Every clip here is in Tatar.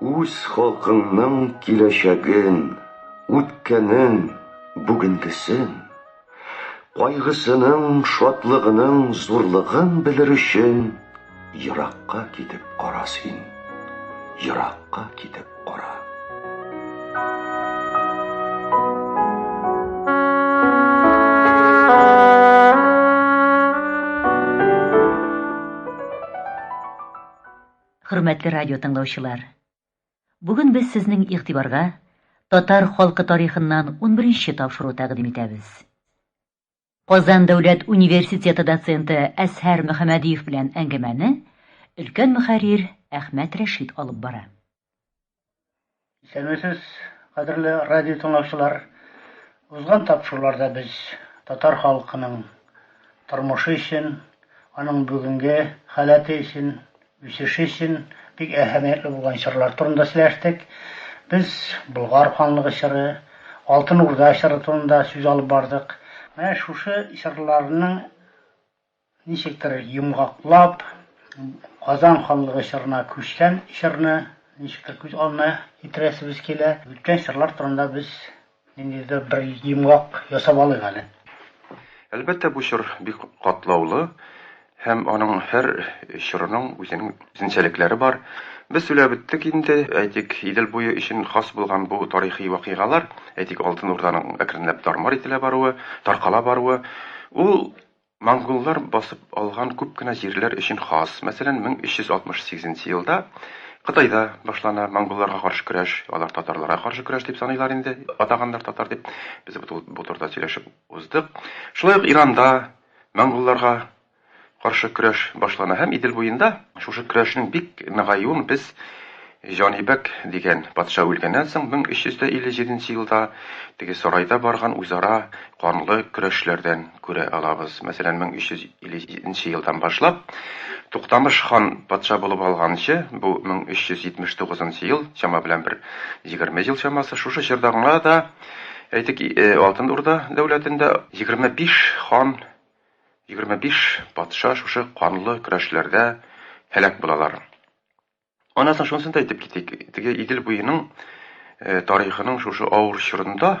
Үз халкыңның киләчәген, үткәнен, бүгенгесен, кайгысының, шатлыгының зурлыгын белер өчен еракка китеп кара син, еракка китеп кара. Хөрмәтле радио тыңлаучылар! Бүген без сезнең игътибарга татар халкы тарихыннан 11-нче тапшыру тәкъдим итәбез. Казан дәүләт университеты доценты Әсһәр Мөхәммәдиев белән әңгәмәне өлкән мөхәррир Әхмәт Рәшит алып бара. Исәнмесез, кадерле радио тыңлаучылар. Узган тапшыруларда без татар халкының тормышы өчен, аның бүгенге халәте өчен, үсеше өчен бик әһәмиятле булган чорлар турында сөйләштек. Без Болгар ханлыгы чоры, Алтын Урда чоры турында сүз алып бардык. Менә шушы чорларның Ничектер йомгаклап, Казан ханлыгы чорына күчкән чорны ничектер күз алдына китерәсебез килә. Үткән чорлар турында без ниндидер бер йомгак ясап алыйк әле. Әлбәттә, бу чор бик катлаулы һәм аның һәр чорының үзенең үзенчәлекләре бар. Без сөйләп үттек инде, әйтик, Идел буе өчен хас булган бу тарихи вакыйгалар, әйтик, Алтын Урданың әкренләп тар-мар ителә баруы, таркала баруы, ул Монголлар басып алган күп кенә җирләр өчен хас, мәсәлән, 1368 елда Кытайда башлана монголларга каршы көрәш, алар татарларга каршы көрәш дип саныйлар инде, атаганнар татар дип, без бу турыда сөйләшеп уздык. Шулай ук Иранда монголларга каршы көрәш башлана һәм Идел буенда шушы көрәшнең бик ныгаюын без Җанибәк дигән патша үлгәннән соң 1357 нче елда теге сарайда барган үзара канлы көрәшләрдән күрә алабыз. Мәсәлән, 1357 нче елдан башлап, Туктамыш хан патша булып алганчы, бу 1379 нчы ел, чама белән бер егерме ел чамасы, шушы чорда гына да, әйтик, Алтын Урда дәүләтендә егерме биш хан, егерме биш патша шушы канлы көрәшләрдә һәлак булалар. Аннан соң шунысын да әйтеп китик, теге Идел буеның э, тарихының шушы авыр чорында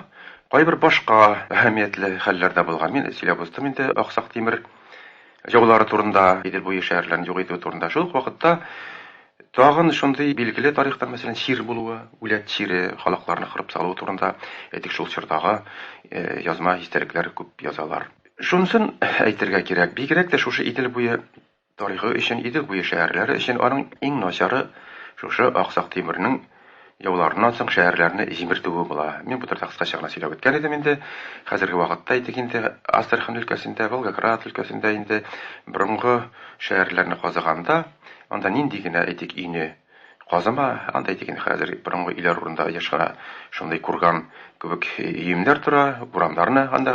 кайбер башка әһәмиятле хәлләр дә булган. Мин сөйләп уздым инде Аксак Тимер җаулары турында, Идел буе шәһәрләрен юк итү турында. Шул ук вакытта Тагын шундый билгеле тарихтан, мәсәлән, чир булуы, үләт чире, халыкларны кырып салу турында, әйтик, шул чордагы э, язма истәлекләр күп язалар. Шунысын әйтергә кирәк, бигрәк тә шушы Идел буе Тарихы өчен, Идел буе шәһәрләре өчен аның иң начары шушы Аксак Тимернең яуларыннан соң шәһәрләрне җимертүе була. Мин бу турыда кыскача гына сөйләп үткән идем инде. Хәзерге вакытта әйтик инде, Астрахань өлкәсендә, Волгоград өлкәсендә инде борынгы шәһәрләрне казыганда, анда нинди генә, әйтик, өйне, Казыма, анда диген хәзер борынгы өйләр урында еш кына шундый курган кебек өемнәр тора, урамнарны анда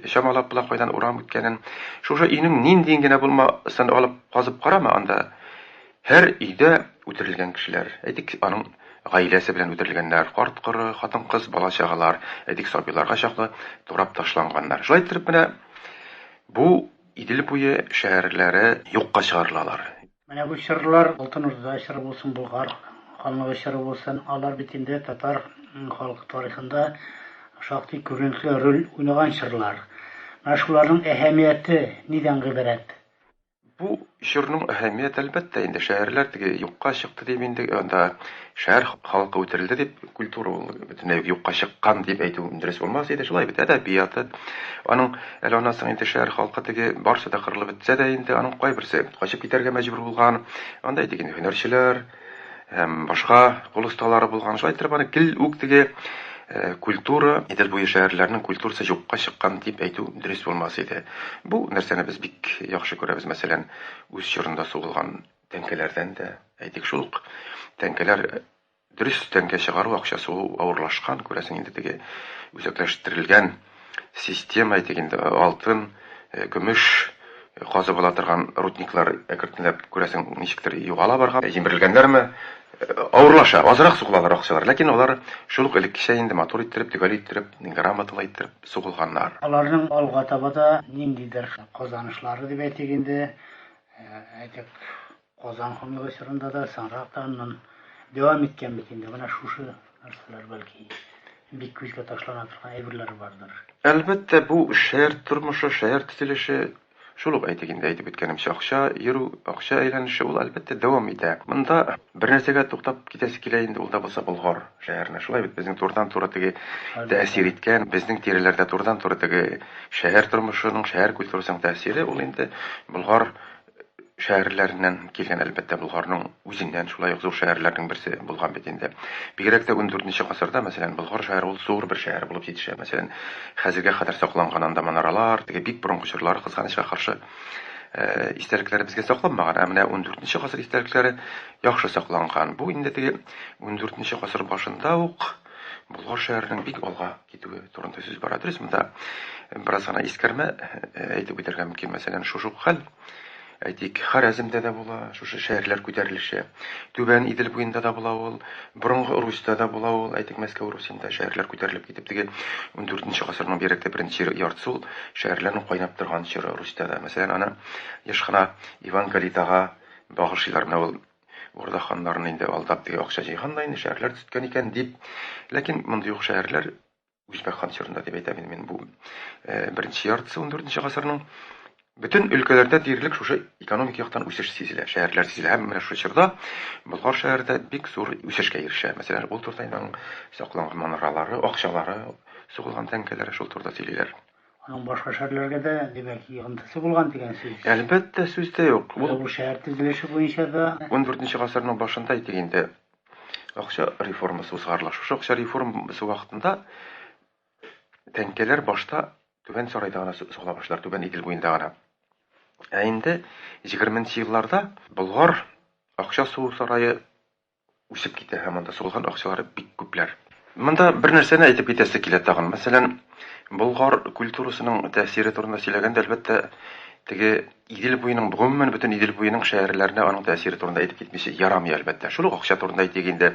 чамалап була кайдан урам үткәнен. Шушы өйнең ниндиен генә булмасын алып казып карама, анда һәр өйдә үтерелгән кешеләр. Әйтик, аның гаиләсе белән үтерелгәннәр, карт-коры, хатын-кыз, бала-чагалар, әйтик, сабыйларга чаклы турап ташланганнар. Шулай иттереп менә бу Идел буе шәһәрләре юкка чыгарылалар. Менә бу чырлар Алтын Урда чыры булсын, Болгар ханлыгы чыры булсын, алар бит инде татар халкы тарихында шактый күренекле роль уйнаган чырлар. Менә шуларның әһәмияте нидән гыйбарәт? Бу чорның әһәмият, әлбәттә, инде шәһәрләр теге юкка чыкты дип инде анда Шәһәр халкы үтерелде дип, культура ул бөтенләй юкка чыккан дип әйтү дөрес булмас иде. Шулай бит, әдәбияты. Аның әле аннан соң инде шәһәр халкы теге барсы да кырылып бетсә дә инде, аның кайберсе качып китәргә мәҗбүр булган. Анда әйтик инде һөнәрчеләр һәм башка кул осталары булган. Шулай итеп аны гел үк теге э, культура, Идел буе шәһәрләренең культурасы юкка чыккан дип әйтү дөрес булмас иде. Бу нәрсәне без бик яхшы күрәбез, мәсәлән, үз чорында сугылган Тәңкәләрдән дә, әйтик, шул ук тәңкәләр дөрес тәңкә чыгару акчасы ул авырлашкан, күрәсең, инде теге үзәкләштерелгән система, әйтик инде, алтын, көмеш казып ала торган рудниклар әкертенләп, күрәсең, ничектер югала барган. Җимерелгәннәрме, авырлаша, азрак сугылалар акчалар, ләкин алар шул ук элеккечә инде матур иттереп, төгәл иттереп, грамоталы иттереп сугылганнар. Аларның алга таба да ниндидер казанышлары дип әйтик инде, Әйтик, Казан ханлыгы чорында да, соңрак та аннан дәвам иткән бит инде. Менә шушы нәрсәләр бәлки бик күзгә ташлана торган әйберләр бардыр. Әлбәттә, бу шәһәр тормышы, шәһәр төзелеше Шул ук әйтик инде, әйтеп үткәнемчә, акча йөрү, акча әйләнеше ул, әлбәттә, дәвам итә. Монда бер нәрсәгә туктап китәсе килә инде, ул да булса Болгар. Шәһәрне шулай бит безнең турыдан-туры теге тәэсир иткән, безнең тирәләрдә турыдан-туры теге шәһәр тормышының, шәһәр культурасының тәэсире ул инде Болгар шәһәрләреннән килгән, әлбәттә, Болгарның үзеннән шулай ук зур шәһәрләрнең берсе булган бит инде. Бигрәк тә 14 гасырда, мәсәлән, Болгар шәһәре ул зур бер шәһәр булып җитешә. Мәсәлән, хәзергә кадәр сакланган анда манаралар, теге бик борынгы чорлар, кызганычка каршы, Э, истәлекләре безгә сакланмаган, ә менә 14 гасыр истәлекләре яхшы сакланган. Бу инде теге 14 гасыр башында ук Болгар шәһәренең бик алга китүе турында сүз бара. Дөрес, монда бераз гына искәрмә э, әйтеп үтәргә мөмкин. Мәсәлән, шушы хәл әйтик, Харәземдә дә була, шушы шәһәрләр күтәрелеше. Түбән Идел буенда да була ул, Борынгы Русьта да була ул, әйтик, Мәскәү Русенда шәһәрләр күтәрелеп китеп, теге ундүртенче гасырның беректе беренче яртысы ул шәһәрләрнең кайнап торган чоры Русьта да. Мәсәлән, аны еш кына Иван Калитага багышлыйлар. Менә ул Урда ханнарын инде алдап, теге акча җыйган да инде, шәһәрләр төзеткән икән, дип. Ләкин мондый ук шәһәрләр Үзбәк хан чорында дип әйтәм инде мин бу э, беренче яртысы 14 гасырның. Бөтен өлкәләрдә диярлек шушы экономик яктан үсеш сизелә, шәһәрләр сизелә. Һәм менә шушы чорда Болгар шәһәрдә бик зур үсешкә ирешә. Мәсәлән, ул туртайның сакланган манаралары, акчалары, сугылган тәңкәләре шул турда сөйлиләр. Аның башка шәһәрләргә дә димәк йогынтысы булган дигән сүз. Әлбәттә, сүз дә юк. Бу шәһәр төзелеше буенча да 14 гасырның башында әйтик инде Акча реформасы узгарыла. Шушы акча реформасы вакытында тәңкәләр башта Түбән Сарайда гына сугыла башлар, Түбән Идел буенда гына. Ә инде 20 елларда Болгар акча сугу сарае үсеп китә һәм анда сугылган акчалар бик күпләр. Монда бер нәрсәне әйтеп китәсе килә тагын. Мәсәлән, Болгар культурасының тәэсире турында сөйләгәндә, әлбәттә, теге Идел буеның, гомумән, бөтен Идел буеның шәһәрләренә аның тәэсире турында әйтеп китмичә ярамый, әлбәттә. Шул ук акча турында әйтик инде.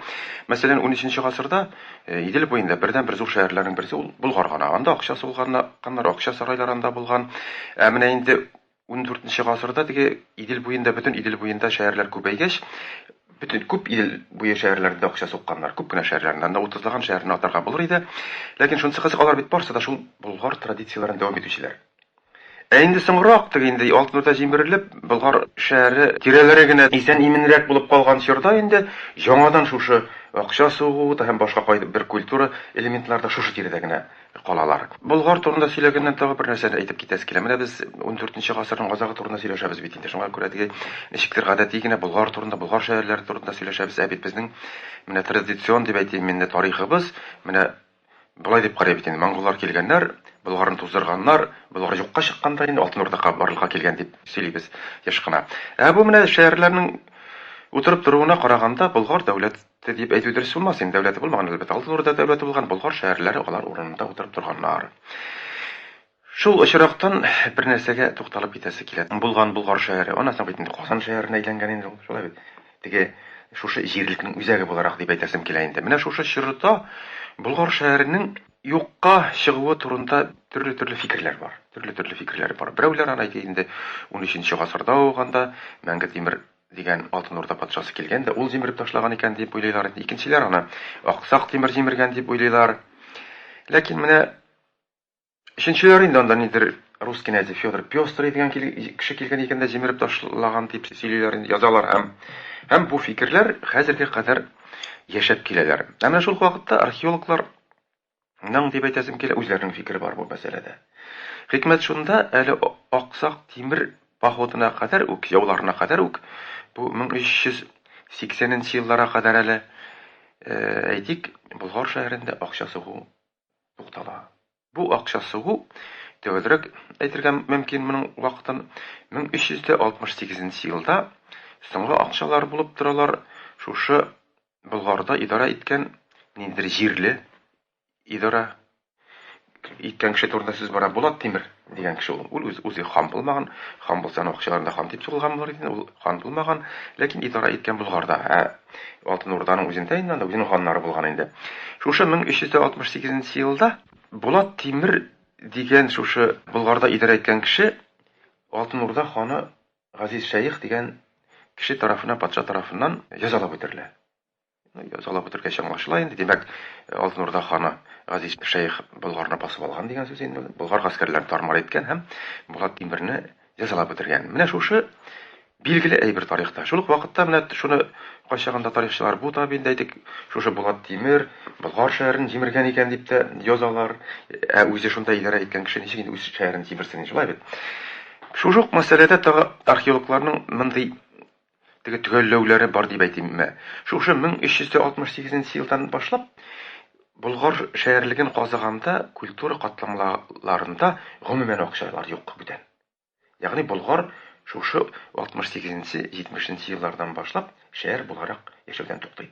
Мәсәлән, унөченче гасырда Идел буенда бердәнбер зур шәһәрләрнең берсе ул Болгар гына. Анда акча сугылганнар, акча сарайлары анда булган. Ә менә инде ундүртенче гасырда теге Идел буенда, бөтен Идел буенда шәһәрләр күбәйгәч, бөтен күп Идел буе шәһәрләрендә дә акча сукканнар, күп кенә шәһәрләрендә. Анда утызлаган шәһәрне атарга булыр иде. Ләкин шунысы кызык, алар бит барысы да шул Болгар традицияләрен дәвам итүчеләр. Ә инде соңрак, теге инде Алтынурда җимерелеп, Болгар шәһәре тирәләре генә исән-иминрәк булып калган чорда инде яңадан шушы акча сугу да һәм башка кайб бер культура элементлары да шушы тирәдә генә калалар. Болгар турында сөйләгәннән тагы бер нәрсәне әйтеп китәсе килә. Менә без ундүртенче гасырның азагы турында сөйләшәбез бит инде. Шуңа күрә теге ничектер гадәти генә Болгар турында, Болгар шәһәрләре турында сөйләшәбез. Ә бит безнең менә традицион дип әйтим мин, менә тарихыбыз, менә Болай дип карый бит инде, монголлар килгәннәр, Болгарны туздырганнар, Болгар юкка чыккан да инде, Алтын Урда барлыкка килгән дип сөйлибез еш кына. Ә бу менә шәярләрнең утырып торуына караганда, Болгар дәүләте дип әйтү дөрес булмас инде, дәүләте булмаган, әлбәттә, Алтын Урда дәүләте булган, Болгар шәярләре алар урынында утырып торганнар. Шул очрактан бер нәрсәгә тукталып китәсе килә. Булган Болгар шәһәре, аннан соң бит инде Казан шәһәренә әйләнгән инде ул, шулай бит? Теге шушы җирлекнең үзәге буларак дип әйтәсем килә инде. Менә шушы чорда Болгар шәһәренең юкка чыгуы турында төрле-төрле фикерләр бар. Төрле-төрле фикерләр бар. Берәүләр аны әйтә инде, унөченче гасырда ук анда Мәңге Тимер дигән Алтын Урда патшасы килгән дә, ул җимереп ташлаган икән дип уйлыйлар инде. Икенчеләр аны Аксак Тимер җимергән дип уйлыйлар. Ләкин менә Өченчеләр инде анда нидер рус кенәзе Федор Пёстрый дигән кеше килгән икән дә җимереп ташлаган дип сөйлиләр инде, язалар һәм һәм бу фикерләр хәзергә кадәр яшәп киләләр. Ә менә шул ук вакытта археологлар Ның дип әйтәсем килә, үзләренең фикере бар бу мәсьәләдә. Хикмәт шунда, әле Аксак Тимер походына кадәр үк, яуларына кадәр үк, бу 1380 нче елларга кадәр әле, э, әйтик, Болгар шәһәрендә акча сугу туктала. Бу акча сугу, төгәлрәк әйтергә мөмкин моның вакытын, 1368 нче елда соңгы акчалар булып торалар, шушы Болгарда идарә иткән ниндидер җирле идарә иткән кеше турында сүз бара, Булат Тимер. Дигән кеше ул. Ул үз, үзе хан булмаган. Хан булса, аның акчаларын да хан дип сугылган булыр иде. Ул хан булмаган, ләкин идарә иткән Болгарда. Ә Алтын Урданың үзендә инде анда үзенең ханнары булган инде. Шушы 1368 елда Булат Тимер дигән шушы Болгарда идарә иткән кеше Алтын Урда ханы Газиз Шәех дигән кеше тарафына, патша тарафыннан язалап үтерелә. Салып үтергәч аңлашыла инде, димәк, Алтын Урда ханы Газиз шәех Болгарны басып алган дигән сүз инде ул. Болгар гаскәрләрен тар-мар иткән һәм Булат Тимерне җәзалап үтергән. Менә шушы билгеле әйбер тарихта. Шул ук вакытта менә шуны кайчагында тарихчылар бу да бит, әйтик, шушы Булат Тимер Болгар шәһәрен җимергән икән дип тә язалар. Ә үзе шунда идарә иткән кеше ничек инде үз шәһәрен җимерсен, шулай бит? Шушы ук мәсьәләдә тагы археологларның мондый Теге төгәлләүләре бар дип әйтим. Мә, шушы 1368 нче елдан башлап, Болгар шәярлеген казыганда культура катламларында гомумән акчалар юк бүтән. Ягъни Болгар шушы 68 нче, 70 нче еллардан башлап шәяр буларак яшәүдән туктый.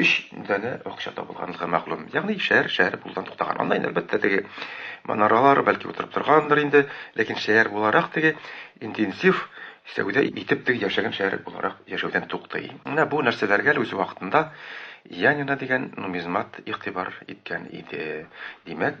Өч данә акча табылганлыгы мәгълүм. Ягъни шәһәр шәһәр булудан туктаган. Аннан, әлбәттә, теге манаралар бәлки утырып торгандыр инде, ләкин шәһәр буларак теге интенсив сәүдә итеп теге яшәгән шәһәр буларак яшәүдән туктый. Менә бу нәрсәләргә лә үз вакытында Янина дигән нумизмат игътибар иткән иде. Димәк,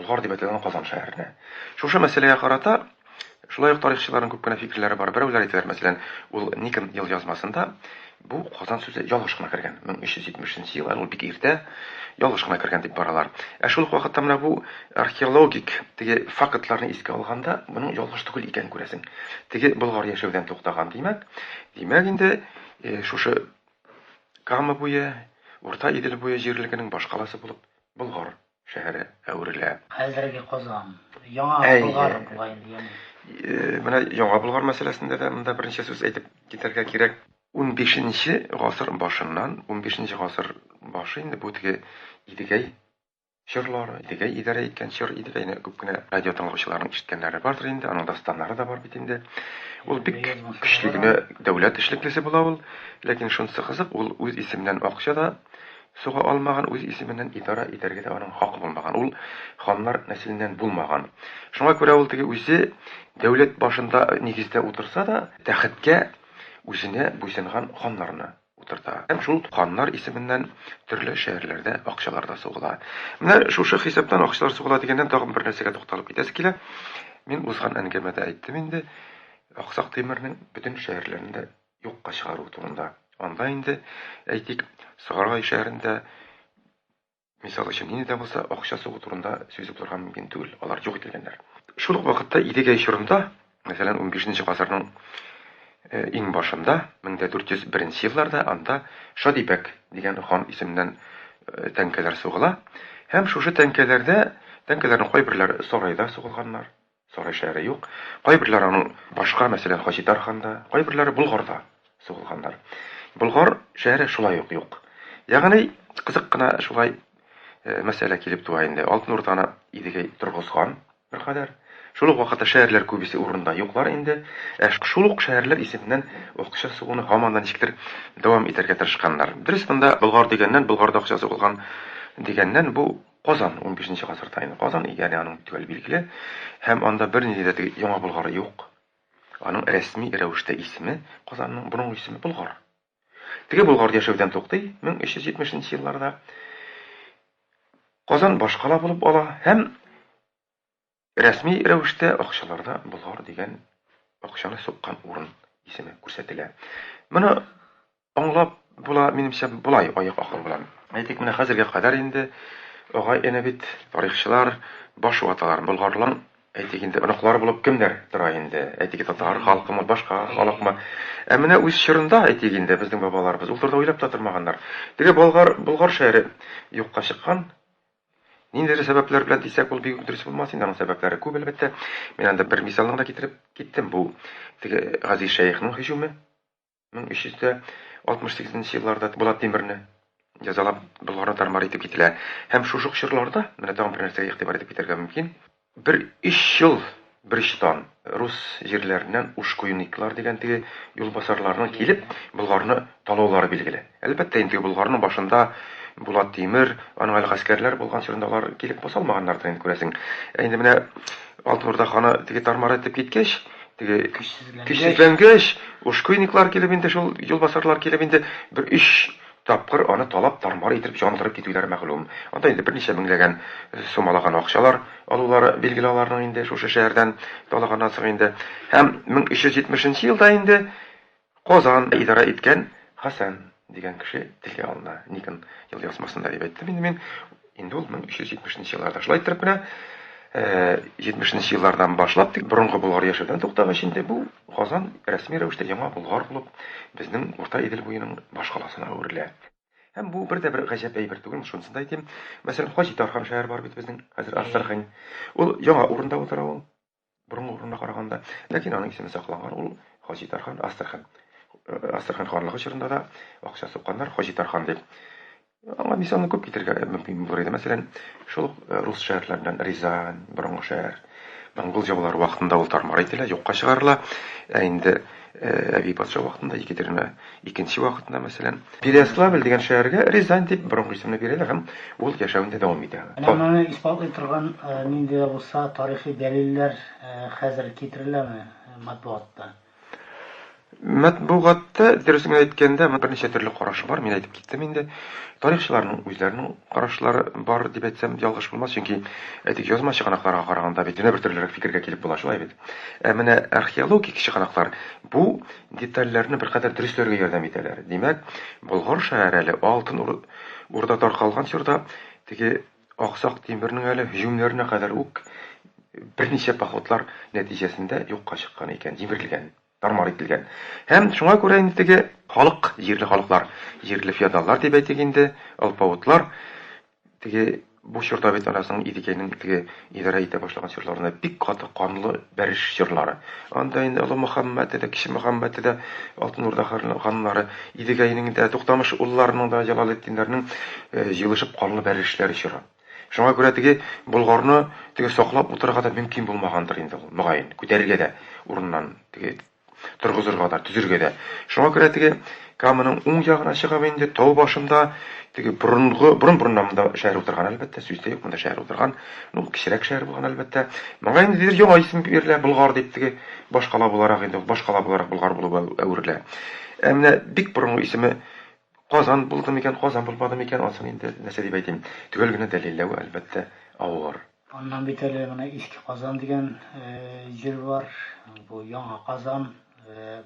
Болгар дип әйтелгән Казан шәһәренә. Шушы мәсьәләгә карата шулай ук тарихчыларның күп кенә фикерләре бар. Берәүләр әйтәләр, мәсәлән, ул Никон елъязмасында бу Казан сүзе ялгыш кына кергән. 1370 нче ел, әле ул бик иртә, ялгыш кына кергән дип баралар. Ә шул ук вакытта менә бу археологик теге фактларны искә алганда, моның ялгыш түгел икәнен күрәсең. Теге Болгар яшәүдән туктаган, димәк, димәк инде шушы Кама буе, Урта Идел буе җирлегенең башкаласы булып Болгар шәһәре әверелә. Хәзерге Казан, Яңа Болгар була инде, ягъни. Менә Яңа Болгар мәсьәләсендә дә монда берничә сүз әйтеп китәргә кирәк. Унбишенче гасыр башыннан, унбишенче гасыр башы инде бу теге Идегәй чорлары, Идегәй идарә иткән чор, Идегәйне күп кенә радио тыңлаучыларның ишеткәннәре бардыр инде, аның дастаннары да бар бит инде. Ул бик көчле генә дәүләт эшлеклесе була ул, ләкин шунысы кызык, ул үз исеменнән акча да Суга алмаган, үз исеменнән идарә итәргә дә аның хакы булмаган, ул ханнар нәселеннән булмаган. Шуңа күрә ул теге үзе дәүләт башында нигездә утырса да, тәхеткә үзенә буйсынган ханнарны утырта. Һәм шул ханнар исеменнән төрле шәһәрләрдә акчалар да сугыла. Менә шушы хисаптан акчалар сугыла дигәннән тагын бер нәрсәгә тукталып китәсе килә. Мин узган әнгәмәдә әйттем инде, Аксак Тимернең бөтен шәһәрләрен дә юкка чыгару турында. Анда инде, әйтик, Сарай шәһәрендә мисал өчен нинди дә булса акча сугу турында сүз булырга мөмкин түгел. Алар юк ителгәннәр. Шул ук вакытта Идегәй чорында, мәсәлән, 15 гасырның э, иң башында, 1401 елларда анда Шадибәк дигән хан исеменнән э, тәңкәләр сугыла һәм шушы тәңкәләрдә тәңкәләрнең кайберләре сарайда сугылганнар, Сарай шәһәре юк. Кайберләр аның башка, мәсәлән, Хаҗи Тарханда, кайберләре Болгарда сугылганнар. Болгар шәһәре шулай ук юк. Ягъни кызык кына шулай э, мәсьәлә килеп туа инде. Алтын Урданы Идегәй торгызган беркадәр. Шул ук вакытта шәһәрләр күбесе урында юклар инде. Ә шул ук шәһәрләр исеменнән акча сугуны һаман да ничектер дәвам итәргә тырышканнар. Дөрес, монда Болгар дигәннән, Болгарда акча сугылган дигәннән бу Казан, унбишенче гасырда инде Казан, ягъни аның бу төгәл билгеле, һәм анда бернинди дә теге Яңа Болгар юк. Аның рәсми рәвештә исеме Казанның, борынгы исеме Болгар. Теге Болгар яшәүдән туктый 1370 нче елларда. Казан башкала булып ала һәм Рәсми рәвештә акчаларда болар дигән акчаны суккан урын исеме күрсәтелә. Моны аңлап була, минемчә, болай аяк акыл белән. Әйтик, менә хәзергә кадәр инде агай-эне бит, тарихчылар, баш ваталар. Болгарлың, әйтик инде, оныклары булып кемнәр тора инде? Әйтик, татар халкымы, башка халыкмы? Ә менә үз чорында, әйтик инде, безнең бабаларыбыз ул турыда уйлап та тормаганнар. Теге Болгар, Болгар шәһәре юкка чыккан, Ниндидер сәбәпләр белән дисәк, ул бик үк дөрес булмас инде, аның сәбәпләре күп, әлбәттә. Мин анда бер мисалны гына китереп киттем, бу теге Газиз шәехнең һөҗүме, 1368 нче елларда Булат Тимерне җәзалап Болгарны тар-мар итеп кителә. Һәм шушы чорларда, менә тагын бер нәрсәгә игътибар итеп китәргә мөмкин, Бер өч ел берочтан рус җирләреннән ушкуйниклар дигән теге юлбасарларның килеп, Болгарны талаулары билгеле. Әлбәттә инде, Болгарның башында Булат Тимер, аның әле гаскәрләре булган чорында алар килеп баса алмаганнардыр инде, күрәсең. Ә инде менә Алтын Урда ханы теге тар-мар итеп киткәч, теге көчсезләнгәч, ушкуйниклар килеп инде, шул юлбасарлар килеп инде бер өч Тапкыр аны талап-тармар итеп җангырып китүләре мәгълүм. Анда инде берничә меңләгән сум алаган акчалар алулары билгеле аларның инде шушы шәһәрдән талаганнан соң инде. Һәм 1370 нче елда инде Казан идарә иткән Хәсән дигән кеше телгә алына. Никн ел язмасында дип әйттем инде мин. Инде ул 1370 нче елларда. Шулай иттереп менә 70 нче еллардан башлап тик борынгы Болгар яшәүдән туктагач инде бу Казан рәсми рәвештә яңа Болгар булып безнең Урта Идел буеның баш каласына әверелә. Һәм бу бер дә бер гаҗәп әйбер түгел, шунысын да әйтим. Мәсәлән, Хаҗи Тархан шәһәре бар бит безнең, хәзер Астрахань. Ул яңа урында утыра ул. Борынгы урынына караганда. Ләкин аның исеме сакланган, ул Хаҗи Тархан Астрхан. Астрхан ханлыгы чорында да акча сукканнар Хаҗи Тархан дип. Аңа мисалны күп китергә мөмкин булыр иде. Мәсәлән, шул ук э, рус шәһәрләреннән Рязань, борынгы шәһәр. Монгол җаулары вакытында ул тармар ителә, юкка чыгарыла. Ә инде э, әби патша вакытында Екатерина Икенче вакытында, мәсәлән, Переяславль дигән шәһәргә Рязань дип борынгы исемне бирәләр һәм ул яшәвен дә дәвам итә. Менә моны исбатлый торган нинди дә булса тарихи дәлилләр хәзер китереләме матбугатта? Матбугатта, дөресен генә әйткәндә, берничә төрле караш бар, мин әйтеп киттем инде. Тарихчыларның үзләренең карашлары бар дип әйтсәм, ялгыш булмас, чөнки әйтик язма чыганакларга караганда бит янә бер төрлерәк фикергә килеп була, шулай бит. Ә менә археологик чыганаклар бу Детальләрне беркадәр дөресләргә ярдәм итәләр. Димәк, Болгар шәһәре әле Алтын Урда таркалган чорда, теге Аксак Тимернең әле һөҗүмнәренә кадәр үк берничә походлар нәтиҗәсендә юкка чыккан икән, җимерелгән, тар-мар ителгән. Һәм шуңа күрә инде теге халык, җирле халыклар, җирле феодаллар дип әйтик инде, алпавытлар, Теге бу чорда бит анасының Идекәйнең теге идарә итә башлаган чорларында бик каты канлы бәреш чорлары. Анда инде Олы Мөхәммәте дә, Кече Мөхәммәте дә, Алтын Урда ханнары, Идегәйнең дә, Туктамыш улларының да, Җалалетдиннәрнең э, җыелышып канлы бәрешләре чора. Шуңа күрә теге Болгарны теге саклап утырырга да мөмкин булмагандыр инде ул, мөгаен. Күтәрергә дә урыннан теге торгызырга да, төзергә дә. Шуңа күрә теге Каманың уң ягына чыгып инде, тау башында, теге борынгы, борын-борыннан монда шәһәр утырган, әлбәттә, сүз дә юк, монда шәһәр утырган. Ну, кечерәк шәһәр булган, әлбәттә. Моңа инде дидер яңа исем бирелә, Болгар дип теге башкала буларак инде, башкала буларак Болгар булып әверелә. Ә менә бик борынгы исеме Казан булды микән, Казан булмады микән, анысын инде нәрсә дип әйтим, төгәл генә дәлилләве, әлбәттә, авыр. Аннан бит әле менә Иске Казан дигән җир бар. Бу Яңа Казан.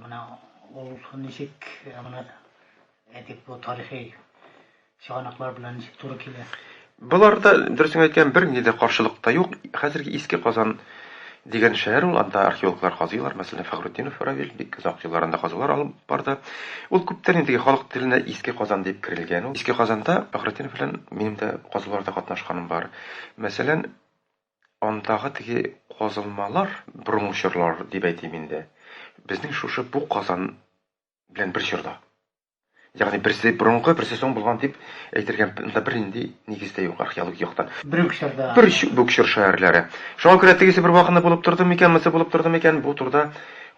Менә ул ничек менә әйтик бу тарихи чыганаклар белән ничек туры килә. Боларда дөресен әйткән бер нинди дә каршылык та юк. Хәзерге Иске Казан дигән шәһәр ул, анда археологлар казыйлар, мәсәлән, Фәхрутдинов Равил бик озак еллар анда казулар алып барды. Ул күптән инде халык теленә Иске Казан дип керелгән ул. Иске Казанда Фәхрутдинов белән минем дә казуларда катнашканым бар. Мәсәлән, андагы теге казылмалар, борынгы чорлар дип әйтим инде, безнең шушы бу казан белән бер чорда. Ягъни берсе борынгы, берсе соң булган дип әйтергә монда бернинди нигез дә юк археологик яктан. Бер үк чорда. Бер үк чор шәһәрләре. Шуңа күрә тегесе бер вакытны булып торды микән, монысы булып торды микән, бу турыда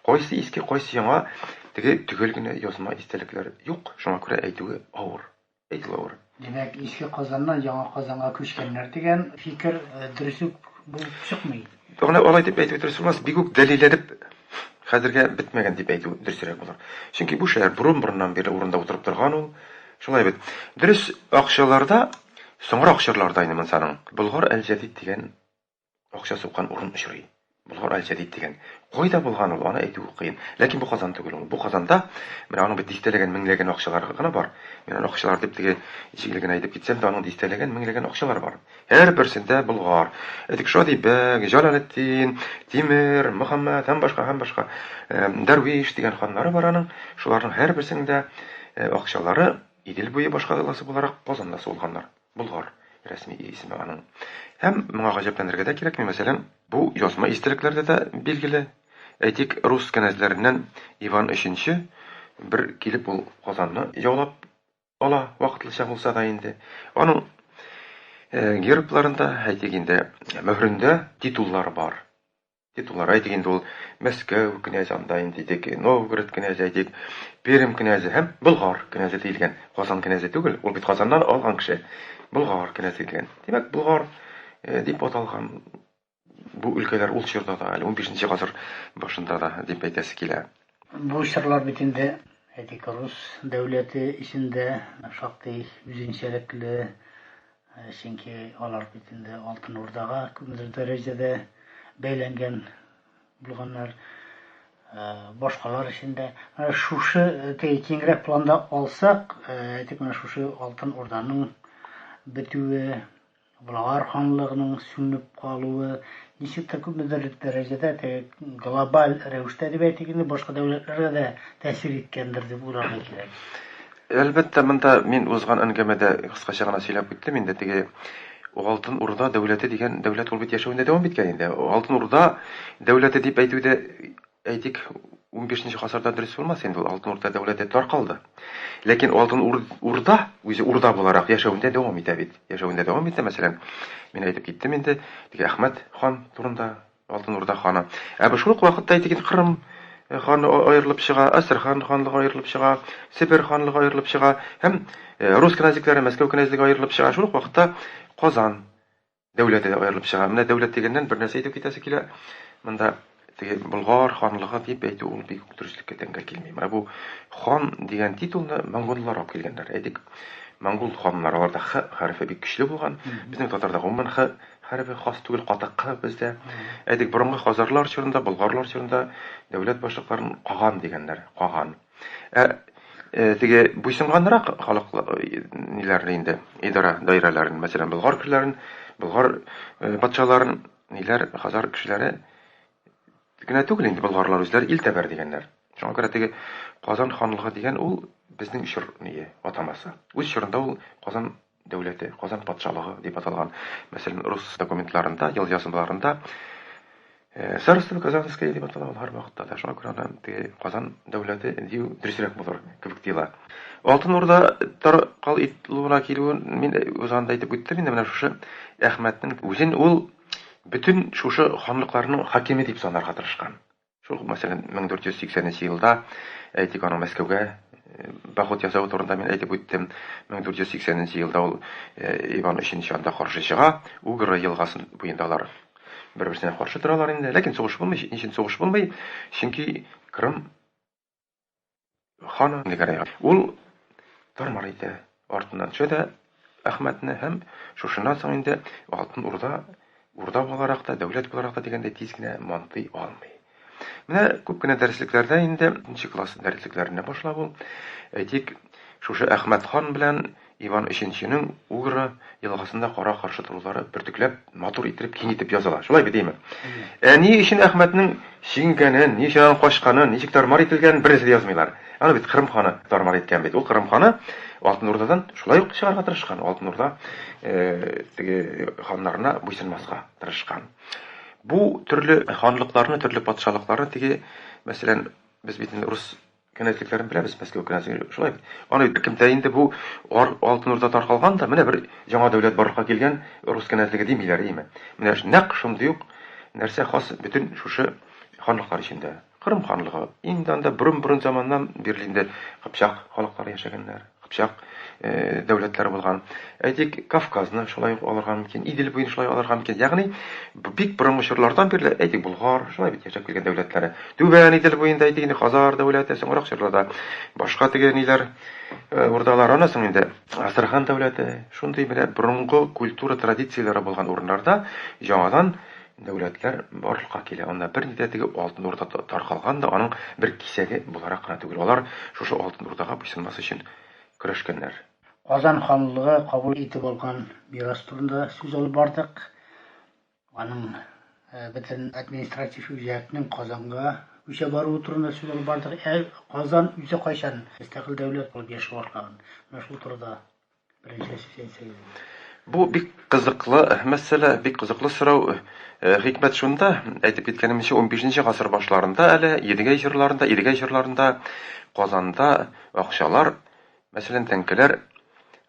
кайсы иске, кайсы яңа, теге төгәл генә язма истәлекләр юк, шуңа күрә әйтүе авыр. Әйтеләвер. Димәк, Иске Казаннан Яңа Казанга күчкәннәр дигән фикер дөрес үк булып чыкмый. Менә алай дип әйтү дөрес булмас, бик үк дәлилләнеп хәзергә бетмәгән дип әйтү дөресрәк булыр. Чөнки бу шәһәр борын-борыннан бирле урында утырып торган ул. Шулай бит. Дөрес, акчаларда, соңрак чорларда инде монсаның, Болгар әл-Җәдид дигән Акча суккан урын очрый. Болгар Аль-Җәдид дигән. Кайда булган ул, аны әйтүе кыен. Ләкин бу Казан түгел ул. Бу Казанда, менә аның бит дистәләгән, меңләгән акчалары гына бар. Мин аны акчалар дип теге җиңел генә әйтеп китсәм дә, аның дистәләгән, меңләгән акчалары бар. Һәрберсендә Болгар. Әйтик, Шади бәг, Җалалетдин, Тимер, Мөхәммәд һәм башка, һәм башка. Дәрвиш дигән ханнары бар аның. Шуларның һәрберсенең дә акчалары Идел буе башкаласы буларак Казанда сугылганнар. Болгар, рәсми исеме аның. Һәм моңа гаҗәпләнергә дә кирәкми, мәсәлән, бу язма истәлекләрдә дә билгеле. Әйтик, рус кенәзләреннән Иван өченче бер килеп ул Казанны яулап ала, вакытлыча булса да инде. Аның гербларында, әйтик инде, мөһрендә титуллар бар. Ди Туларай ди инде ул, Мәскәү кнәзе анда инде дик, Новгород кнәзе әйтик, Пермь кнәзе һәм Болгар кнәзе диелгән. Казан кнәзе түгел, ул бит Казаннан алган кеше. Болгар кнәзе диелгән. Димәк, Болгар э, дип аталган бу өлкәләр ул чорда да, әле 15 гасыр башында да дип әйтәсе килә. Бу чорлар бит инде әйтик рус дәүләте эчендә шактый үзенчәлекле Чөнки алар бит инде Алтын Урдага күпмедер дәрәҗәдә бәйләнгән булганнар. Башкалар өчен дә шушы киңрәк планда алсак, әйтик, менә шушы Алтын Урданың бетүе, Болгар ханлыгының сүнеп калуы, ничек тә күпмедер дәрәҗәдә теге глобаль рәвештә дип әйтик инде, башка дәүләтләргә дә тәэсир иткәндер дип уйларга кирәк. Әлбәттә, монда мин узган әңгәмәдә кыскача гына сөйләп үттем инде, теге Алтын Урда дәүләте дигән дәүләт ул бит яшәвендә дәвам иткән инде. Алтын Урда дәүләте дип әйтү дә, әйтик, унбишенче гасырда дөрес булмас инде, ул Алтын Урда дәүләте таркалды. Ләкин Алтын Урда үзе урда буларак яшәвендә дәвам итә бит. Яшәвендә дәвам итә, мәсәлән, мин әйтеп киттем инде, теге Әхмәт хан турында. Алтын Урда ханы. Ә бу шул ук вакытта әйтегез Кырым ханы аерылып чыга, Астрхан ханлыгы аерылып чыга, Себер ханлыгы аерылып чыга һәм рус кенәзлекләре, Мәскәү кенәзлеге аерылып чыга. Шул ук вакытта Казан дәүләте дә аерылып чыга. Менә дәүләт дигәннән бер нәрсә әйтеп китәсе килә. Монда теге Болгар ханлыгы дип әйтү ул бик үк дөреслеккә тәңгәл килми. Менә бу хан дигән титулны монголлар алып килгәннәр. Әйтик, монгол ханнары аларда х хәрефе бик көчле булган. Безнең татарда гомумән х Хәрби хас түгел катык кына бездә. Әйтик, борынгы хазарлар чорында, болгарлар чорында дәүләт башлыкларын каган дигәннәр, каган. Ә э, теге буйсынганрак халык ниләрне инде, идара даирәләрен, мәсәлән, болгар кешеләрен, болгар э, патшаларын, ниләр, хазар кешеләре генә түгел инде болгарлар үзләре ил тәбәр дигәннәр. Шуңа күрә теге Казан ханлыгы дигән ул безнең чор ние атамасы. Үз чорында ул Казан дәүләте, Казан патшалыгы дип аталган, мәсәлән, рус документларында, елъязмаларында Царство Казанское дип атала ул һәрвакытта да. Шуңа күрә аны теге Казан дәүләте дию дөресрәк булыр кебек тоела. Алтын Урда таркал итүенә килүен мин узганда әйтеп үттем инде менә шушы Әхмәтнең үзен ул бөтен шушы ханлыкларның хакиме дип санарга тырышкан. Шул ук мәсәлән, 1480 нче елда, әйтик, аның Мәскәүгә поход ясавы турында мин әйтеп үттем. 1480 нче елда ул Иван өченче анда каршы чыга, Угры елгасын буенда алар бер-берсенә каршы торалар инде. Ләкин сугыш булмый, ничен сугыш булмый? Чөнки Крым Ханым Нигәрәй. Ул Тармар әйтә, артыннан төшә дә Әхмәтне һәм шушыннан соң инде Алтын Урда Урда буларак та, дәүләт буларак та дигәндәй тиз генә мантый алмый. Менә күп кенә дәреслекләрдә инде нче класс дәреслекләренә башлап ул, әйтик, шушы Әхмәт хан белән Иван Өченченең Угра елгасында кара-каршы торулары бөртекләп, матур иттереп, киң итеп языла. Шулай бит, әйеме? Ә ни өчен Әхмәтнең чигенгәнен, ни өчен аның качканын, ничек тар-мар ителгәнен бернәрсә дә язмыйлар. Аны бит Кырым ханы тар-мар иткән бит. Ул Кырым ханы Алтын Урдадан шулай ук чыгарга тырышкан, Алтын Урда теге ханнарына буйсынмаска тырышкан. Бу төрле ханлыкларны, төрле патшалыкларны теге, мәсәлән, без бит инде урыс Кенәзлекләрен беләбез, Мәскәү кенәзлеге шулай бит. Аны беркемтә инде бу ар, Алтын Урда таркалган да, менә бер яңа дәүләт барлыкка килгән, рус кенәзлеге димиләр, име. Менә нәкъ шундый ук нәрсә хас бөтен шушы ханлыклар эчендә. Кырым ханлыгы, инде анда борын-борын заманнан бирле инде кыпчак халыклары яшәгәннәр. Кыпчак дәүләтләре булган. Әйтик, Кавказны шулай ук алырга мөмкин, Идел буен шулай алырга мөмкин. Ягъни, бик борынгы чорлардан бирле, әйтик, Болгар, шулай бит яшәп килгән дәүләтләре. Түбән Идел буенда, әйтик, инде Хазар дәүләте, соңрак чорларда башка теге ниләр, урдалар, аннан соң инде Астрахан дәүләте. Шундый менә борынгы культура традицияләре булган урыннарда яңадан Дәүләтләр барлыкка килә. Анда бер ни дә теге Алтын Урда таркалган да, аның бер кисәге буларак кына түгел. Алар шушы Алтын Урдага буйсынмас өчен көрәшкәннәр. Казан ханлыгы кабул итеп алган мирас турында сүз алып бардык. Аның бөтен административ үзәкнең Казанга күчә баруы турында сүз алып бардык. Ә Казан үзе кайчан мөстәкыйль дәүләт булып яши башлаган? Менә шул турыда Бу бик кызыклы мәсьәлә, бик кызыклы сорау. Хикмәт шунда, әйтеп киткәнемчә, унбишенче гасыр башларында әле Едигәй җырларында, Идегәй җырларында Казанда акчалар, мәсәлән, тәңкәләр,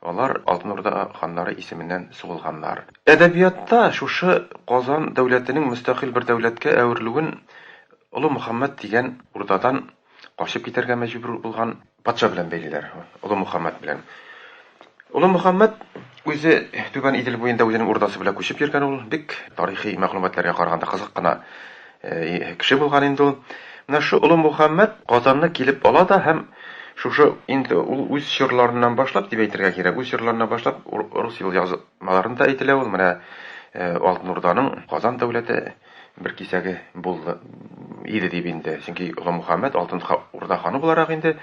алар Алтын Урда ханнары исеменнән сугылганнар. Әдәбиятта шушы Казан дәүләтенең мөстәкыйль бер дәүләткә әверелүен Олы Мөхәммәт дигән урдадан качып китәргә мәҗбүр булган Патша белән бәйлиләр, Олы Мөхәммәт белән. Олы Мөхәммәт үзе Түбән Идел буенда үзенең урдасы белән күчеп йөргән ул. Бик тарихи мәгълүматларга караганда кызык кына кеше булган инде ул. Менә шу Олы Мөхәммәт Казанны килеп ала да һәм шушы инде ул үз чорларыннан башлап дип әйтергә кирәк, үз чорларыннан башлап рус елъязмаларында әйтелә ул, менә Алтын Урданың Казан дәүләте, бер кисәге булды иде дип инде. Чөнки Олымухаммәт Алтын Урда ханы буларак инде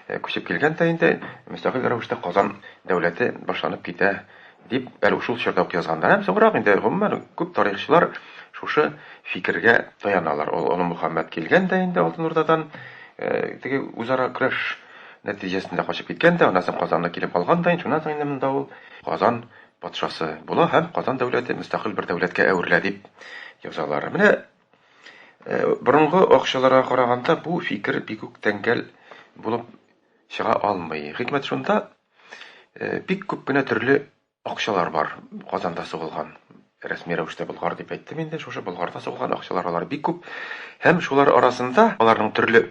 э, күчеп килгән дә инде мөстәкыйль рәвештә Казан дәүләте башланып китә дип әле шул чорда ук язганнар. Һәм соңрак инде гомумән күп тарихчылар шушы фикергә таяналар. Ул Олы Мөхәммәд килгән дә инде Алтын Урдадан э, теге үзара көрәш нәтиҗәсендә качып киткән дә, аннан соң Казанны килеп алган да, шуннан соң инде монда ул Казан Патшасы була һәм Казан дәүләте мөстәкыйль бер дәүләткә әверелә дип язалар. Менә борынгы акчаларга караганда бу фикер бик үк тәңгәл булып чыга алмый. Хикмәт шунда, бик күп кенә төрле акчалар бар Казанда сугылган рәсми рәвештә Болгар дип әйттем инде. Шушы Болгарда сугылган акчалар алар бик күп. Һәм шулар арасында аларның төрле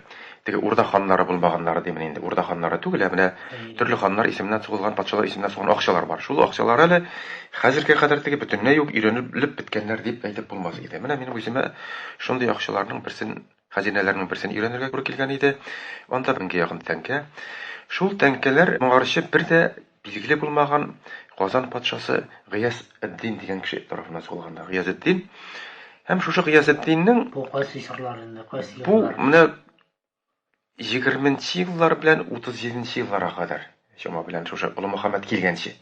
Теге Урда ханнары булмаганнары димени инде. Урда ханнары түгел, ә менә төрле ханнар исеменнән сугылган, патшалар исеменнән сугылган акчалар бар. Шул акчалар әле хәзергә кадәр теге бөтенләй юк, өйрәнелеп беткәннәр дип әйтеп булмас иде. Менә минем үземә шундый акчаларның берсен, хәзинәләрнең берсен өйрәнергә туры килгән иде. Анда меңгә якын тәңкә. Шул тәңкәләр моңарчы бер дә Билгеле булмаган Казан патшасы Гыяз эд-Дин дигән кеше тарафыннан сугылганда Гыяз эд-Дин һәм шушы Гыяз эд-Диннең Бу кайсы чорлар инде, кайсы еллар? Бу менә 20 нче еллар белән 37 нче елларга кадәр чама белән шушы Олы Мөхәммәд килгәнче.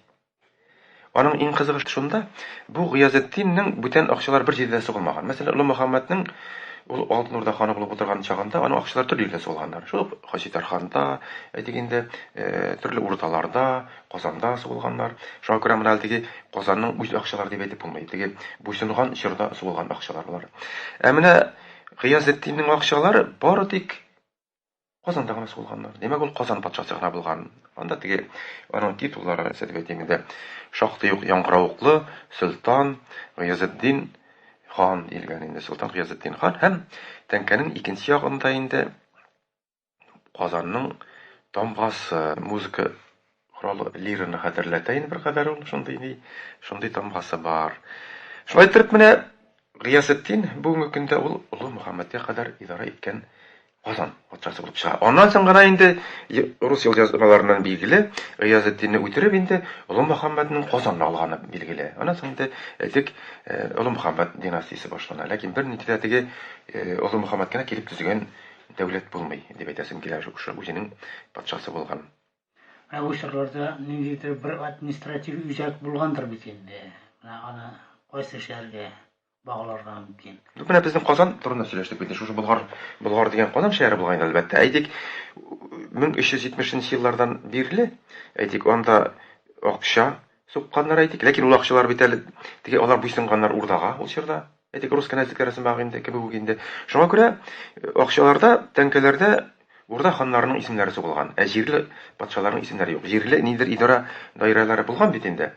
Аның иң кызыгы шунда, бу Гыяз эд-Диннең бүтән акчалар бер җирдә сугылмаган. Мәсәлән, Олы Мөхәммәднең ул Алтын Урда ханы булып утырган чагында аның акчалары төрле җирдә сугылганнар. Шул ук Хаҗи Тарханда, әйтик инде, төрле урдаларда, Казанда сугылганнар. Шуңа күрә менә әлеге Казанның үз акчалары дип әйтеп булмый. Теге буйсынган чорда сугылган акчалар болар. Ә менә Гыязетдиннең акчалары бары тик Казанда гына сугылганнар. Димәк, ул Казан патшасы гына булган. Анда теге аның титуллары, нәрсә дип әйтим инде, шактый ук яңгыравыклы, Солтан Гыязетдин хан диелгән инде, Солтан Гыязетдин хан һәм тәңкәнең икенче ягында инде Казанның тамгасы, музыка коралы лираны хәтерләтә инде беркадәр ул, шундый ни, шундый тамгасы бар. Шулай иттереп менә Гыясетдин бүгенге көндә ул Олы Мөхәммәдгә кадәр идарә иткән Казан патшасы булып чыга. Аннан соң гына инде рус елъязмаларыннан билгеле, Гыясетдинне үтереп инде Олы Мөхәммәднең Казанны алганы билгеле. Аннан соң инде әйтик, Олы Мөхәммәд династиясе башлана. Ләкин бернинди дә теге Олы Мөхәммәд генә килеп төзегән Дәүләт булмый, дип әйтәсем килә, шушы үзенең патшасы булган. Менә бу чорларда ниндидер бер административ үзәк булгандыр бит инде. Менә аны кайсы шәһәргә багларга мөмкин? Ну, менә безнең Казан турында сөйләштек бит. Шушы Болгар, Болгар дигән Казан шәһәре булган инде, әлбәттә. Әйтик, 1370 еллардан бирле, әйтик, анда акча, Сукканнар әйтик, ләкин ул акчалар бит әле теге алар буйсынганнар урдага ул чорда. Әйтик, рус кенәзлекләре сымагы инде, кебек үк инде. Шуңа күрә акчаларда, тәңкәләрдә урда ханнарының исемнәре сугылган, ә җирле патшаларның исемнәре юк. Җирле ниндидер идарә даирәләре булган бит инде.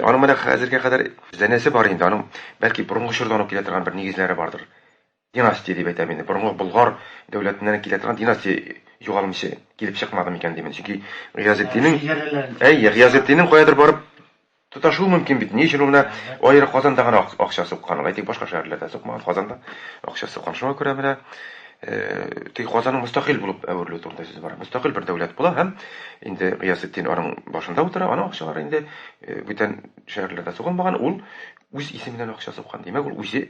Аның менә хәзергә кадәр зәнәсе бар инде, аның бәлки борынгы чордан ук килә торган бер нигезләре бардыр. Династия дип әйтәм инде. Борынгы Болгар дәүләтеннән килә торган династия югалмыйча килеп чыкмады микән дим. Чөнки Гыязетдиннең Әйе, Гыязетдиннең каядыр барып тоташуы мөмкин бит. Ни өчен ул менә аеры Казанда гына акча суккан? Әйтик, башка шәһәрләрдә сукмаган, Казанда акча суккан. Шуңа күрә менә теге Казанның мөстәкыйль булып әверелүе турында сүз бара. Мөстәкыйль бер дәүләт була һәм инде Гыязетдин аның башында утыра, аның акчалары инде бүтән шәһәрләрдә сугылмаган, ул үз исеменнән акча суккан. Димәк, ул үзе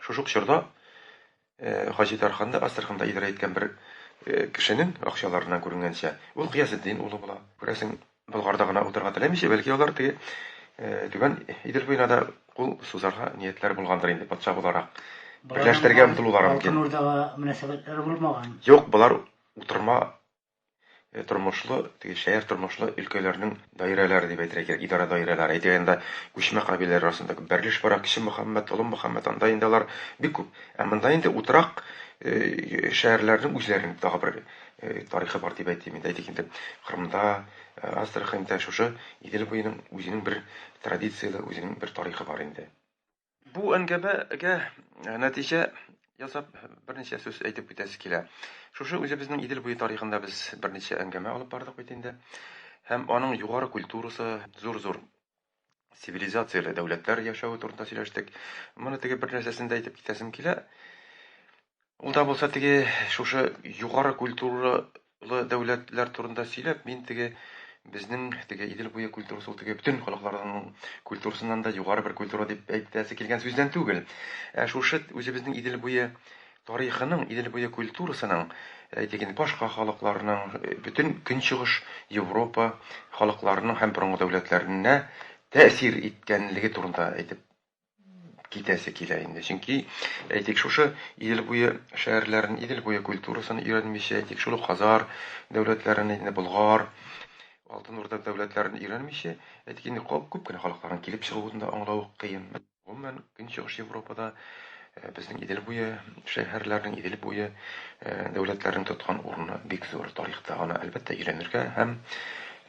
Шушы ук чорда Хаҗи Тарханны Астраханда идарә иткән бер кешенең акчаларыннан күренгәнчә, ул Гыясетдин улы була. Күрәсең, Болгарда гына утырырга теләмичә, бәлки алар теге Түбән Идел буена да кул сузарга ниятләре булгандыр инде, патша буларак. Берләштерергә омтылулары мөмкин. Алтын Урдага мөнәсәбәтләре булмаган. Юк, болар утырма тормышлы, теге шәһәр тормышлы өлкәләрнең даирәләре дип әйтергә кирәк, идарә даирәләре. Әйтик әйткәндә, күчмә кабиләләр арасында күп бәрелеш бара, Кече Мөхәммәт, Олы Мөхәммәт, анда инде алар бик күп. Ә монда инде утрак шәһәрләрнең үзләренең тагы бер тарихы бар дип әйтим инде. Әйтик инде, Кырымда, Астраханьда шушы Идел буеның үзенең бер традицияле, үзенең бер тарихы бар инде. Бу әңгәмәгә нәтиҗә ясап берничә сүз әйтеп үтәсе килә. Шушы үзебезнең Идел буе тарихында без берничә әңгәмә алып бардык бит инде. Һәм аның югары культурасы, зур-зур цивилизацияле дәүләтләр яшәве турында сөйләштек. Моны теге бер нәрсәсен дә әйтеп китәсем килә. Ул да булса теге шушы югары культуралы дәүләтләр турында сөйләп, мин теге безнең теге Идел буе культурасы ул теге бөтен халыкларның культурасыннан да югары бер культура дип әйтәсе килгән сүздән түгел. Ә шушы үзебезнең Идел буе тарихының, Идел буе культурасының, әйтик инде башка халыкларның, бөтен Көнчыгыш Европа халыкларының һәм борынгы дәүләтләренә тәэсир иткәнлеге турында әйтеп китәсе килә инде. Чөнки, әйтик, шушы Идел буе шәһәрләрен, Идел буе культурасын өйрәнмичә, әйтик, шул ук Хазар дәүләтләрен, инде Болгар, Алтын Урда дәүләтләрен өйрәнмичә, әйтик, инде кап күп кенә халыкларның килеп чыгуын да аңлау ук кыен. Гомумән, Көнчыгыш Европада безнең Идел буе шәһәрләренең, Идел буе дәүләтләренең тоткан урыны бик зур тарихта. Аны, әлбәттә, өйрәнергә һәм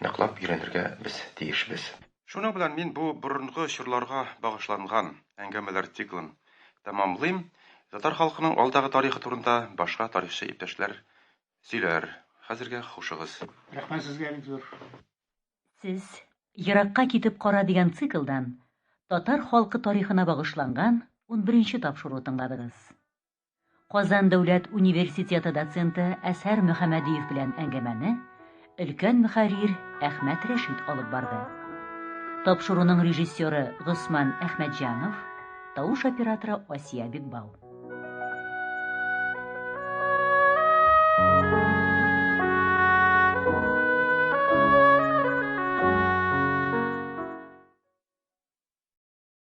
ныклап өйрәнергә без тиешбез. Шуның белән мин бу борынгы чорларга багышланган әңгәмәләр циклын тәмамлыйм. Татар халкының алдагы тарихы турында башка тарихчы иптәшләр сөйләр. Хәзергә хушыгыз. Рәхмәт сезгә бик зур. Сез Еракка китеп кара дигән циклдан татар халкы тарихына багышланган унберенче тапшыру тыңладыгыз. Казан дәүләт университеты доценты Әсәр Мөхәммәдиев белән әңгәмәне өлкән мөхәррир Әхмәт Рәшит алып барды. Тапшыруның режиссеры Госман Әхмәтҗанов, тавыш операторы Асия Бекбау.